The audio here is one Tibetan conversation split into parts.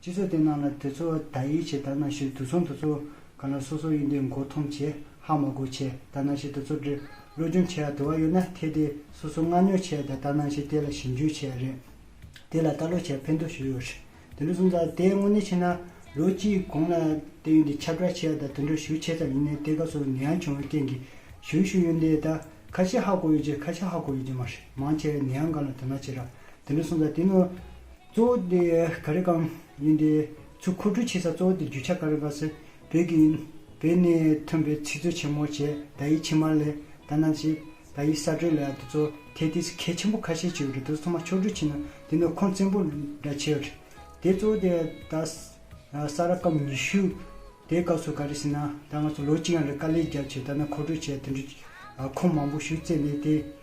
སྤྱི་ཚོགས་དེ་ནང་ལ་དེ་ཚོ་ད་ཡིད་ཆེས་ད་ན་ཤི་དུས་ཚོང་དུ་ཚོ་ག་ལ་སོ་སོ་ཡིན་དེ་མགོ་འཐོམ་བྱས་ཧ་མ་གོ་བྱས་ད་ན་ཤི་དུ་ཚོ་འདྲི་བློ་སྦྱོང་བྱས་ཡ་དུ་བ་ཡོད་ན་དེ་དེ་སོ་སོ་མངག་ཉོ་བྱས་ད་ད་ན་ཤི་དེ་ལ་ཞིབ་འཇུག་བྱས་ཡ་རེད་དེ་ལ་ལྟ་ཀློག་བྱས་ཕན་ཐོག་ཞིག་ཡོད་རེད་དེ་ལུགས་སོང་ད་དེ་དངོས་གནས་ཕྱིན་ན་ལོ་གཅིག་གོང་ལ་དེ་ཡོན་དེ་ཁྱབ་བསྒྲགས་བྱས་ཡ་ད་དེ་འདྲ་ཞུ་ཆེ་ཙམ་ཡིན་ནའི་དེ་སྐབས་སུ་ནད་ཡམས་བྱུང་བའི་རྐྱེན་གྱིས་ཞུ་ཞུ་ཡོན་དེ་ད་ཁ་ཤས་ཧ་གོ་ཡོད་ཀྱི་ཁ་ཤས་ཧ་གོ་ཡོད་ཀྱི་མ་རེད་མང་ཆེ་བས་ནད་ཡམས་གང་ལ་དོ་སྣང་བྱེད་ར་དེ་འདྲ་སོང་ད་དེ་ནོར་གཙོ་བོ་དེ་ག་རེ་གང་ཡིན་ཏེ། ཆུ་མཁོ་སྤྲོད་བྱེད་ས་གཙོ་བོ་དེ་རྒྱུ་ཆ་ག་རེ་གང་ཟེར། བོད་ཀྱི་ཡིན། བོད་ནས་ཐོན་པའི་ཚིག་མཛོད་ཆེན་མོ་བྱས་ད་ཡིག་ཕྱི་མར་ལས་ད་གནང་བྱེད། ད་ཡིག་གསར་སྤྲོད་ལས་དེ་ཚོ་ཐད་ཐིག་གལ་ཆེན་པོ་ཁ་ཤས་བྱས་ཡོད་རེད་དེ་ཚོ་ཚང་མ་ཕྱོགས་བསྒྲིགས་བྱས་ན་དེ་ནས་ཁོང་བཙན་པོ་འདྲ་བྱས་རེད། དེ་གཙོ་བོ་དེ་ད་ས་ར་སྐབས་ཉི་ཤུ་དེའི་སྐབས་སུ་ག་རེ་ཟེར་ན་ད་ང་ཚོ་ལོ་གཅིག་ཡང་རེད་དཀའ་ལས་རྒྱབ་བྱས་ད་ནས་མཁོ་སྤྲོད་བྱས་དེ་འདྲ་ཁོང་མང་པོ་ཞུ་རྩེ་ནས་དེ།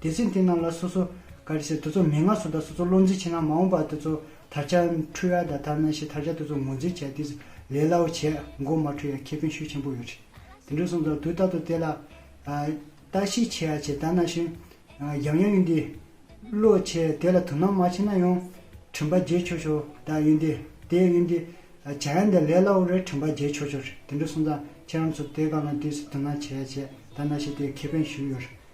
དེ་ཚེ་འདི་རྣམས་ལ་སོ་སོ་ཀ་རེ་ཞིག་དེ་ཚོ་མན་ངག་སོགས་དང་སོ་སོ་བློ་འཛིན་བྱེད་ན་མ་འོངས་པར་དེ་ཚོ་དར་ཆ་འཕྲུལ་ཡ་དང་དར་ན་ཞེས་དར་ཆ་དེ་ཚོ་ངོས་འཛིན་བྱས་ཏེ་ལས་སླ་བོ་བྱས་མགོ་མ་འཁྲུལ་ཡ་ཁེ་ཕན་ཤུགས་ཆེན་པོ་ཡོད་དེ་འདྲ་གསུངས་དང་དུས་རྟག་ཏུ་དེ་ལ་བརྟག་ཞིབ་བྱེད་ཡ་བྱེད་དར་ན་ཞིང་འཇམ་ཡང་ཡུན་འདི་བློ་ཆེ་དེ་ལ་དོ་སྣང་མ་བྱེད་ན་ཡང་དྲིན་པ་རྒྱས་ཆོག་ཆོག་དར་ཡུན་འདི་དེ་ཡུན་འདི་བྱ་ཡ་འདི་ལས་སླ་བོ་རེད་དྲིན་པ་རྒྱས་ཆོག་ཆོག་དེ་འདྲ་གསུངས་དང་ཁྱེད་རང་ཚོ་དེ་ག་ལ་འདུས་སུ་དོ་སྣང་བྱེད་ཡ་བྱེད་དར་ན་ཞེས་དེ་ཁེ་ཕན་ཞུས་ཡོད་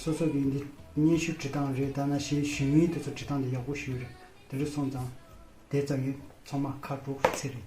སོ་སོ་གིས་འདི་སྙན་ཞུ་བྲི་སྟངས་རེད་ད་ན་ཞེས་ཞུས་མིན་དེ་ཚོ་བྲི་སྟངས་དེ་ཡག་པོ་ཞུས་རེད་དེ་རུ་སོང་ཙང་དེ་ཙམ་ཡིན་ཚོང་མ་ཁ་དྲོ་ཚེ་རིང།